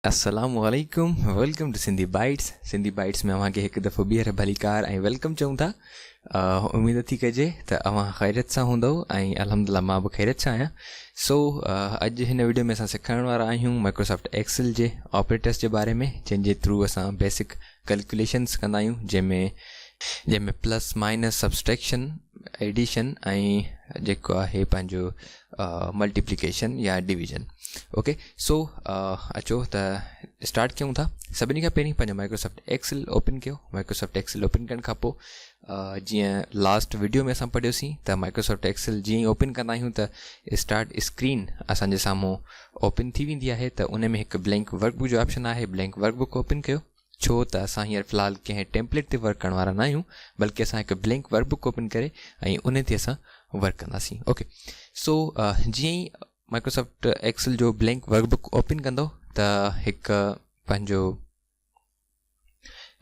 السلام عليڪم welcome to Sindhi bytes Sindhi Bites ۾ اوهان کي هڪ دفعو ٻيهر ڀلي ڪار ۽ ويلڪم چون ٿا اميد ٿي ڪجي ته اوهان خيرت سان هوندو ۽ الحمد لله مان به خيرت سان آهيان سو اڄ هن ويڊيو ۾ اسان سيکارڻ وارا آهيون مائڪروسافٽ ايڪسل جي آپريٽرس جي باري ۾ جنهن جي ٿرو اسان بيسڪ ڪلڪيوليشنز ڪندا آهيون جنهن ۾ جنهن ۾ پلس مائنس سبسٽريڪشن ايڊيشن ۽ جيڪو آهي پنهنجو ملٽيپليڪيشن يا ڊويزن اوڪي سو اچو ته اسٽارٽ ڪيون ٿا سڀني کان پهرين پنهنجو مائڪروسافٽ ايڪسل اوپن ڪيو مائڪروسافٽ ايڪسل اوپن ڪرڻ کان پوء جيئن لاسٽ وڊيو ۾ اسان پڙهيو سين ته مائڪروسافٽ ايڪسل جيئن ئي اوپن ڪندا آهيون ته اسٽارٽ اسڪرين اسان جي سامهون اوپن ٿي ويندي آهي ته ان ۾ هڪ بلينڪ ورڪ بڪ جو آپشن آهي بلينڪ ورڪ بڪ اوپن ڪيو ڇو ته اسان هينئر في الحال ڪنهن ٽيمپليٽ تي ورڪ ڪرڻ وارا نه آهيون بلڪه اسان هڪ بلينڪ ورڪ بڪ اوپن ڪري ۽ ان تي اسان ورڪ ڪنداسين اوڪي سو جيئن ئي مائڪروسافٽ ايڪسل جو بلينڪ ورڪ بڪ اوپن ڪندو ته هڪ پنهنجو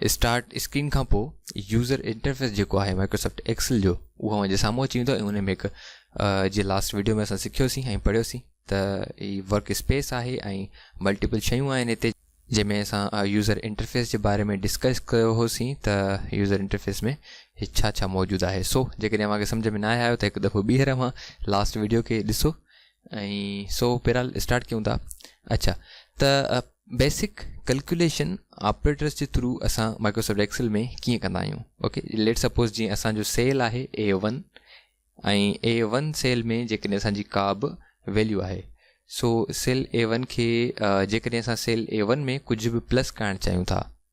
اسٽارٽ اسڪرين کان پوء يوزر انٽرفيس جيڪو آهي مائڪروسافٽ ايڪسل جو اهو اوهان جي سامهون اچي ويندو ۽ ان ۾ هڪ جي لاسٽ ويڊيو ۾ اسان سکيوسين ۽ پڙهيوسين ته هي ورڪ اسپيس آهي ۽ ملٽيپل شيون آهن هتي جنهن ۾ اسان يوزر انٽرفيس جي باري ۾ ڊسڪس ڪيو هوسين ته يوزر انٽرفيس ۾ هي ڇا ڇا موجود آهي سو جيڪڏهن اوهان کي سمجهه ۾ نه آهي آيو ته هڪ دفعو ٻيهر اوهان لاسٽ ويڊيو کي ڏسو ۽ سو بهرحال اسٽارٽ ڪيون ٿا اچھا ته بيسڪ ڪلڪوليشن آپريٽرس جي ٿرو اسان مائڪروسافٽ ايڪسل ۾ ڪيئن ڪندا آهيون اوڪي ليٽ سپوز جي اسان جو سيل آهي A one ۽ A one cell ۾ جيڪڏهن اسان جي ڪا به ويليو آهي سو سيل اي ون کي جيڪڏهن اسان سيل اي ون ۾ ڪجهه به پلس ڪرائڻ چاهيون ٿا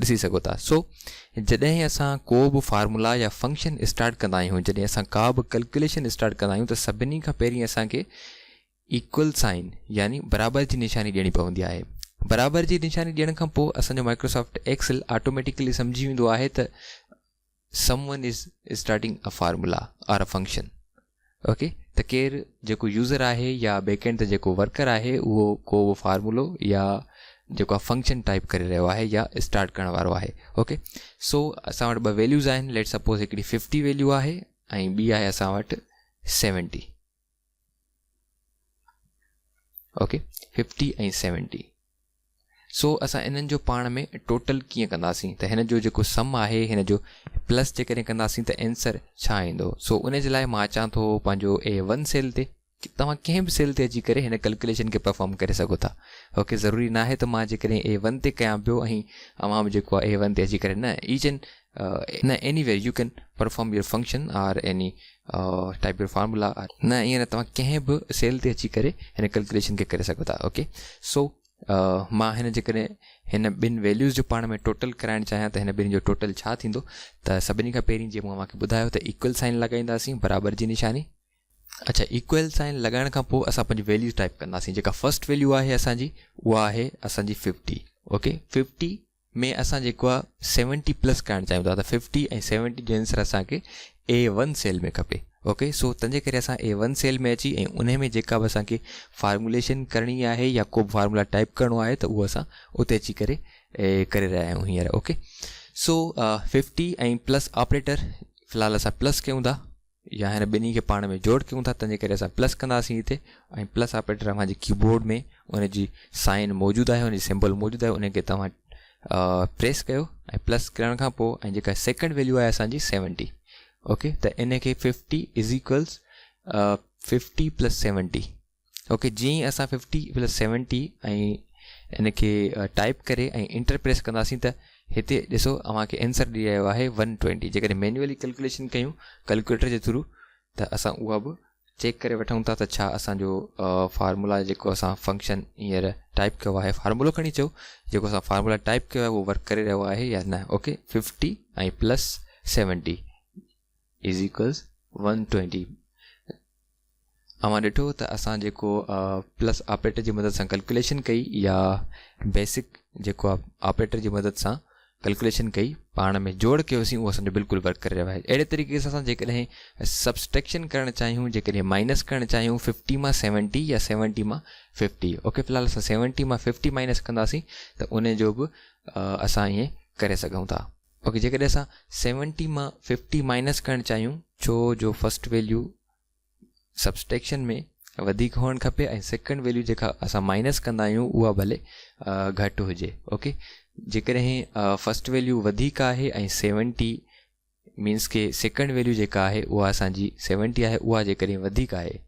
ڏسي سگهو ٿا. سو جڏهن اسان ڪو به فارمولا يا فنڪشن اسٽارٽ ڪندا آهيون جڏهن اسان ڪا به ڪلڪيوليشن اسٽارٽ ڪندا آهيون ته سڀني کان پهرين اسان کي ايڪول سائين يعني برابر جي نشاني ڏيڻي پوندي آهي برابر جي نشاني ڏيڻ کان پوء اسان جو مائڪروسافٽ ايڪسل آٽوميٽيڪلي سمجهي ويندو آهي ته Someone is starting a formula or a function ok ته ڪير جيڪو يوزر آهي يا بيڪ اينڊ تي جيڪو ورڪر آهي اهو ڪو به فارمولو يا جيڪو آهي فنڪشن ٽائپ ڪري رهيو آهي يا اسٽارٽ ڪرڻ وارو آهي ok سو اسان وٽ ٻه ويليوز آهن ليٽس سپوز هڪڙي ففٽي ويليو آهي ۽ ٻي آهي اسان وٽ seventy okay fifty ۽ seventy so اسان انهن جو پاڻ ۾ ٽوٽل ڪيئن ڪنداسين ته هن جو جيڪو سم آهي هن جو پلس جيڪڏهن ڪنداسين ته آنسر ڇا ايندو سو ان جي لاء مان اچان ٿو پنهنجو اي ون سيل تي توهان ڪنهن به سيل تي اچي ڪري هن ڪلڪوليشن کي پرفارم ڪري سگهو ٿا اوکي ضروري ناهي ته مان جيڪڏهن اي ون تي ڪيان پيو ۽ اوهان به جيڪو اي ون تي اچي ڪري نه ايچ اينڊ نه any you can perform your function or any type your formula نه ائين نه توهان ڪنهن به سيل تي اچي ڪري هن ڪلڪوليشن کي ڪري سگهو ٿا اوڪي سو مان هن جيڪڏهن هن ٻن ويليوز جو پاڻ ۾ ٽوٽل ڪرائڻ چاهيان ته هن ٻنهي جو ٽوٽل ڇا ٿيندو ته سڀني کان پهرين جيئن مون اوهانکي ٻڌايو ته ايڪول سائن لڳائينداسين برابر جي نشاني اچھا ايڪول سائن لڳائڻ کان پوء اسان پنهنجي ويليوز ٽائپ ڪنداسين جيڪا فرسٽ ويليو آهي اسانجي اها آهي اسانجي ففٽي اوڪي ففٽي ۾ اسان جيڪو آ سيونٽي پلس ڪرائڻ چاهيون ٿا ته ففٽي ۽ سيونٽي جي انسر اسان کي اي ون سيل ۾ کپي اوڪي سو تنهنجي ڪري اسان اي ون سيل ۾ اچي ۽ انهي ۾ جيڪا به اسان کي فارموليشن ڪرڻي آهي يا ڪو به فارمولا ٽائپ ڪرڻو آهي ته اهو اسان اتي اچي ڪري ڪري رهيا آهيون هينئر okay so fifty ۽ plus operator في الحال اسان پلس ڪيون ٿا يا هن ٻنهي کي پاڻ ۾ جوڙ ڪيون ٿا تنهن جي ڪري اسان پلس ڪنداسين هتي ۽ پلس آپريٽر اوهان جي ڪيبورڊ ۾ ان جي سائن موجود آهي ان جي سمبل موجود آهي ان کي توهان پريس ڪيو ۽ پلس ڪرڻ کان پوء ۽ جيڪا سيڪنڊ ويليو آهي اسان جي سيونٽي اوڪي ته ان کي fifty is equals fifty plus seventy okay جيئن ئي اسان ففٽي پلس سيونٽي ۽ ان کي ٽائپ ڪري ۽ انٽر پريس ڪنداسين ته هتي ڏسو اوهان کي آنسر ڏئي رهيو آهي ون ٽوينٽي جيڪڏهن مينوئلي ڪلڪوليشن ڪيون ڪلڪوليٽر جي ٿرو ته اسان اها به چيڪ ڪري وٺون ٿا ته ڇا اسانجو فارمولا جيڪو اسان فنڪشن هينئر ٽائپ ڪيو آهي فارمولو کڻي چئو جيڪو اسان فارمولا ٽائپ ڪيو آهي اهو ورڪ ڪري رهيو آهي يا نه okay fifty ۽ plus seventy Ezekiels one twenty اوهان ڏٺو ته اسان جيڪو پلس آپريٽر جي مدد سان ڪلڪوليشن ڪئي يا بيسڪ جيڪو آپريٽر جي مدد سان ڪلڪوليشن ڪئي پاڻ ۾ جوڙ ڪيوسين اهو اسان جو بلڪل ورڪ ڪري رهيو آهي اهڙي طريقي سان اسان جيڪڏهن سبسٽريڪشن ڪرڻ چاهيون جيڪڏهن مائنس ڪرڻ چاهيون ففٽي مان سيونٽي يا سيونٽي مان ففٽي اوڪي في الحال اسان سيونٽي مان ففٽي مائنس ڪنداسين ته ان جو به اسان ائين ڪري سگهون ٿا اوڪي جيڪڏهن اسان سيونٽي مان ففٽي مائنس ڪرڻ چاهيون ڇو جو فرسٽ ويليو سبسٽيڪشن ۾ وڌيڪ هئڻ کپي ۽ سيڪنڊ ويليو جيڪا اسان مائنس ڪندا آهيون اها ڀلي گهٽ هجي اوڪي جيڪڏهن فرسٽ ويليو وڌيڪ آهي ۽ سيونٽي مينس ڪي سيڪنڊ ويليو جيڪا آهي اها اسانجي سيونٽي آهي اها جيڪڏهن وڌيڪ آهي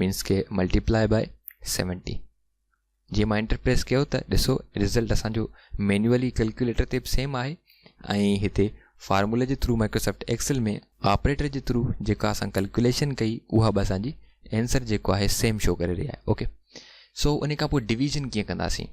مينس کي ملٽيپلائي بائي سيونٽي جي مان انٽر پريس ڪيو ته ڏسو رزلٽ اسانجو مينوئلي ڪلڪيوليٽر تي به سيم آهي ۽ هتي فارمولا جي ٿرو مائڪروسافٽ ايڪسل ۾ آپريٽر جي ٿرو جيڪا اسان ڪلڪيوليشن ڪئي اها به اسان جي اينسر جيڪو آهي سيم شو ڪري رهي آهي اوڪي سو ان کان پوء ڊويزن ڪيئن ڪنداسين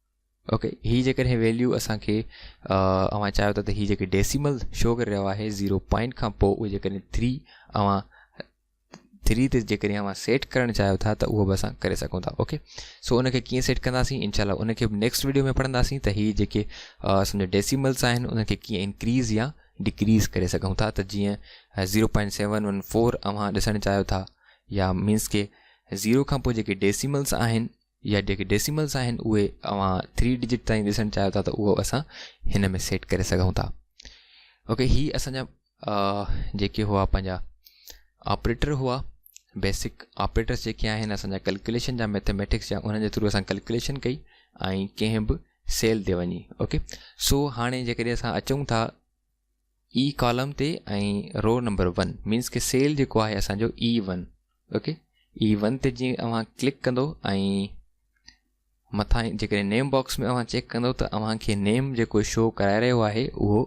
اوڪي هي جيڪڏهن ويليو اسان کي اوهان چاهيو ٿا ته هي جيڪي ڊيسيمل شو ڪري رهيو آهي زيرو پوائنٽ کان پوء اهو جيڪڏهن ٿري اوهان ٿري تي جيڪڏهن اوهان سيٽ ڪرڻ چاهيو ٿا ته اهو به اسان ڪري سگهون ٿا اوڪي سو ان کي ڪيئن سيٽ ڪنداسين انشاء الله ان کي به نيڪسٽ ويڊيو ۾ پڙهنداسين ته هي جيڪي اسان ڊيسيملس آهن ان کي ڪيئن انڪريز يا ڊڪريز ڪري سگهون ٿا ته جيئن zero point seven one four اوهان ڏسڻ چاهيو ٿا يا مينس ڪي زيرو کان پوء جيڪي ڊيسيملس آهن يا جيڪي ڊيسيملز آهن اهي اوهان ٿري ڊجٽ تائين ڏسڻ چاهيو ٿا ته اهو اسان هن ۾ سيٽ ڪري سگهون ٿا اوڪي هي اسان جا جيڪي هئا پنهنجا آپريٽر هئا بيسڪ آپريٽرس جيڪي آهن اسان جا ڪلڪوليشن جا ميٿميٽڪس جا انهن جي ٿرو اسان ڪلڪوليشن ڪئي ۽ ڪنهن به سيل تي وڃي اوڪي سو هاڻي جيڪڏهن اسان اچون ٿا اي ڪالم تي ۽ رو نمبر ون مينس ڪي سيل جيڪو آهي اسان جو A one okay A one تي جي اوهان ڪلڪ ڪندو ۽ مٿان جيڪڏهن نيم باڪس ۾ اوهان چيڪ ڪندو ته اوهان کي نيم جيڪو شو ڪرائي رهيو آهي اهو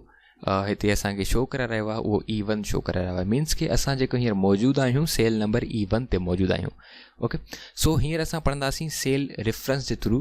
هتي اسان کي شو ڪرائي رهيو آهي اهو اي ون شو ڪرائي رهيو آهي مينس ڪي اسان جيڪو هينئر موجود آهيون سيل نمبر اي ون تي موجود آهيون اوڪي سو هينئر اسان پڙهنداسين سيل ريفرنس جي ٿرو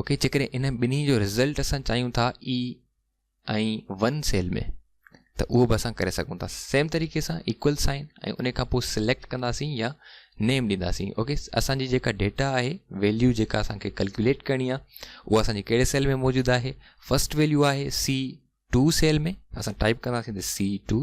اوڪي جيڪڏهن انهن ٻنهي جو رزلٽ اسان چاهيون ٿا اي ۽ ون سيل ۾ ته اهو به اسان ڪري سگهون ٿا سيم طريقي سان ايڪول سائن ۽ ان کان پوء سليڪٽ ڪنداسين يا نيم ڏينداسين اوڪي اسان جي جيڪا ڊيٽا آهي ويليو جيڪا اسان کي ڪلڪيوليٽ ڪرڻي آهي اها اسان جي ڪهڙي سيل ۾ موجود آهي فرسٽ ويليو آهي سي ٽو سيل ۾ اسان ٽائپ ڪنداسين ته سي ٽو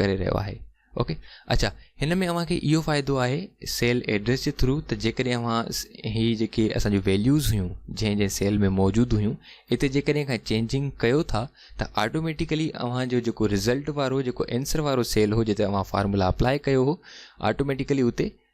ڪري رهيو آهي اوڪي اڇا هن ۾ اوهان کي اهو فائدو آهي سيل ايڊريس جي ٿرو ته جيڪڏهن اوهان هي جيڪي اسان جون ويليوز هيون جنهن جنهن سيل ۾ موجود هيون اتي جيڪڏهن کان چينجنگ ڪيو ٿا ته آٽوميٽيڪلي اوهان جو جيڪو رزلٽ وارو جيڪو انسر وارو سيل هو جتي اوهان فارمولا اپلاء ڪيو هو آٽوميٽيڪلي اتي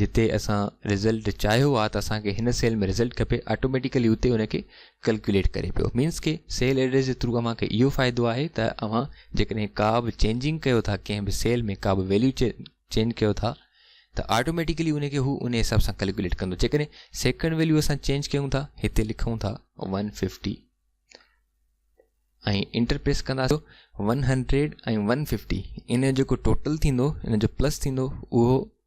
جتي اسان رزلٽ چاهيو آ ته اسان کي هن سيل ۾ رزلٽ کپي آٽوميٽيڪلي اتي ان کي ڪلڪيوليٽ ڪري پيو مينس ڪي سيل ايڊريس جي ٿرو اوهان کي اهو فائدو آهي ته اوهان جيڪڏهن ڪا به چينجنگ ڪيو ٿا ڪنهن به سيل ۾ ڪا به ويليو چينج ڪيو ٿا ته آٽوميٽيڪلي ان کي هو ان حساب سان ڪلڪيوليٽ ڪندو جيڪڏهن سيڪنڊ ويليو اسان چينج ڪيون ٿا هتي لکون ٿا 150 ۽ انٽر پريس ڪنداسون 100 ۽ 150 ان جو جيڪو ٽوٽل ٿيندو ان جو پلس ٿيندو اهو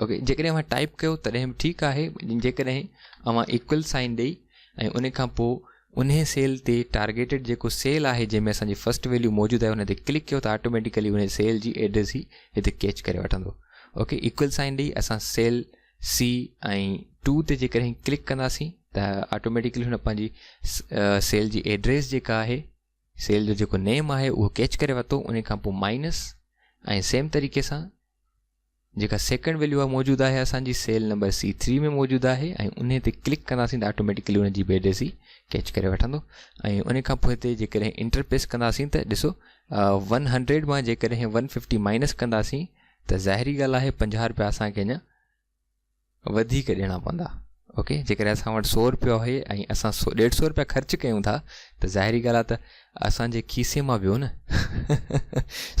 اوڪي جيڪڏهن اوهان ٽائپ ڪيو تڏهن به ٺيڪ آهي جيڪڏهن اوهان ايڪول سائن ڏئي ۽ ان کان پوء ان سيل تي ٽارگيٽيڊ جيڪو سيل آهي جنهن ۾ اسانجي فرسٽ ويليو موجود آهي ان تي ڪلڪ ڪيو ته آٽوميٽيڪلي ان سيل جي ايڊريس هي هتي ڪيچ ڪري وٺندو اوڪي ايڪول سائن ڏئي اسان سيل سي ۽ ٽو تي جيڪڏهن ڪلڪ ڪنداسين ته آٽوميٽيڪلي هن پنهنجي سيل جي ايڊريس جيڪا آهي سيل جو جيڪو نيم آهي اهو ڪيچ ڪري ورتو ان کان پوء مائنس ۽ سيم طريقي سان جيڪا سيڪنڊ ويليو آهي موجود آهي اسان جي سيل نمبر سي ٿري ۾ موجود آهي ۽ انهي تي ڪلڪ ڪنداسين ته آٽوميٽيڪلي ان جي بي ڊيسي ڪيچ ڪري وٺندو ۽ ان کان پوء هتي جيڪڏهن انٽر پريس ڪنداسين ته ڏسو ون هنڊريڊ مان جيڪڏهن ون ففٽي مائنس ڪنداسين ته ظاهري ڳالهه آهي پنجاهه روپيا اسان کي اڃا وڌيڪ ڏيڻا پوندا اوڪي جيڪڏهن اسان وٽ سؤ روپيا آهي ۽ اسان سو ڏيڍ سؤ روپيا خرچ ڪيون ٿا ته ظاهري ڳالهه آهي ته اسان جي کيسي مان ويو نه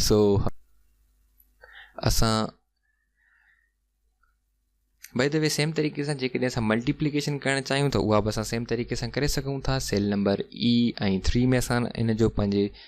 سو اسان باي د وي سيم طريقي سان جيڪڏهن اسان ملٽيپليڪيشن ڪرڻ چاهيون ته اها به اسان سيم طريقي سان ڪري سگهون ٿا سيل نمبر اي ۽ ٿري ۾ اسان ان جو پنهنجي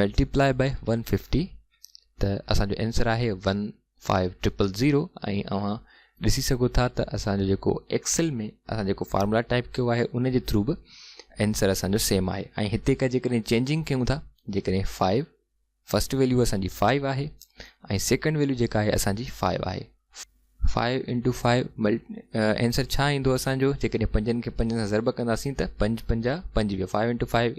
ملٽيپلائي بائي ون ففٽي ته اسان جو آنسر آهي ون فائيو ٽرپل ذيرو ۽ اوهان ڏسي سگهو ٿا ته اسان جو جيڪو ايڪسل ۾ اسان جيڪو فارمولا ٽائپ ڪيو آهي ان جي ٿرو به آنسر اسان جو سيم آهي ۽ هتي ڪا جيڪڏهن چينجنگ ڪيون ٿا جيڪڏهن فائيو فسٽ ويليو اسان جي فائيو آهي ۽ سيڪنڊ ويليو جيڪا آهي اسان جي فائيو آهي فائيو انٽو فائيو مل آنسر ڇا ايندو اسان جو جيڪڏهن پنجن کي پنجن سان ضرب ڪنداسين ته پنج پنجا پنجويهه فائيو انٽو فائيو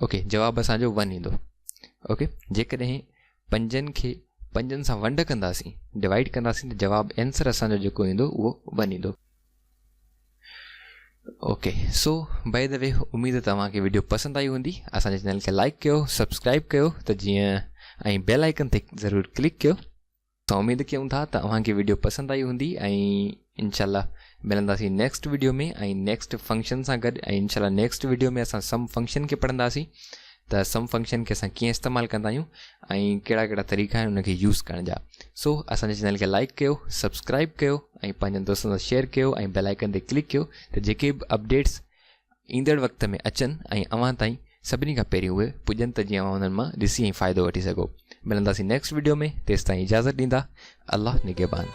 اوڪي جواب اسان جو ون ايندو اوڪي جيڪڏهن پنجن کي پنجن سان ونڊ ڪنداسين ڊوائيڊ ڪنداسين ته جواب آنسر اسان جو جيڪو ايندو اهو ون ايندو okay so by the way اميد توهان کي ويڊيو پسند آئي هوندي اسان جي چينل کي لائڪ ڪيو سبسڪرائب ڪيو ته جيئن ۽ بيل آئڪن تي ضرور ڪلڪ ڪيو ته اميد ڪيون ٿا ته اوهان کي ويڊيو پسند آئي هوندي ۽ انشاء الله ملنداسين نيڪسٽ ويڊيو ۾ ۽ نيڪسٽ فنڪشن سان گڏ ۽ انشاء الله نيڪسٽ ويڊيو ۾ اسان سم فنڪشن کي پڙهنداسين ته سم فنڪشن کي اسان ڪيئن استعمال ڪندا آهيون ۽ ڪهڙا ڪهڙا طريقا آهن ان کي يوز ڪرڻ جا سو اسان جي چينل کي لائڪ ڪيو سبسڪرائب ڪيو ۽ پنهنجن دوستن سان شيئر ڪيو ۽ بيل آئڪن تي ڪلڪ ڪيو ته جيڪي به اپڊيٽس ايندڙ وقت ۾ اچن ۽ اوهان تائين سڀني کان پهرين اهي پڄن ته جيئن اوهان انهن مان ڏسي ۽ فائدو وٺي سگهو ملنداسين نيڪسٽ وڊيو ۾ تيستائين اجازت ڏيندا الله نگهبان.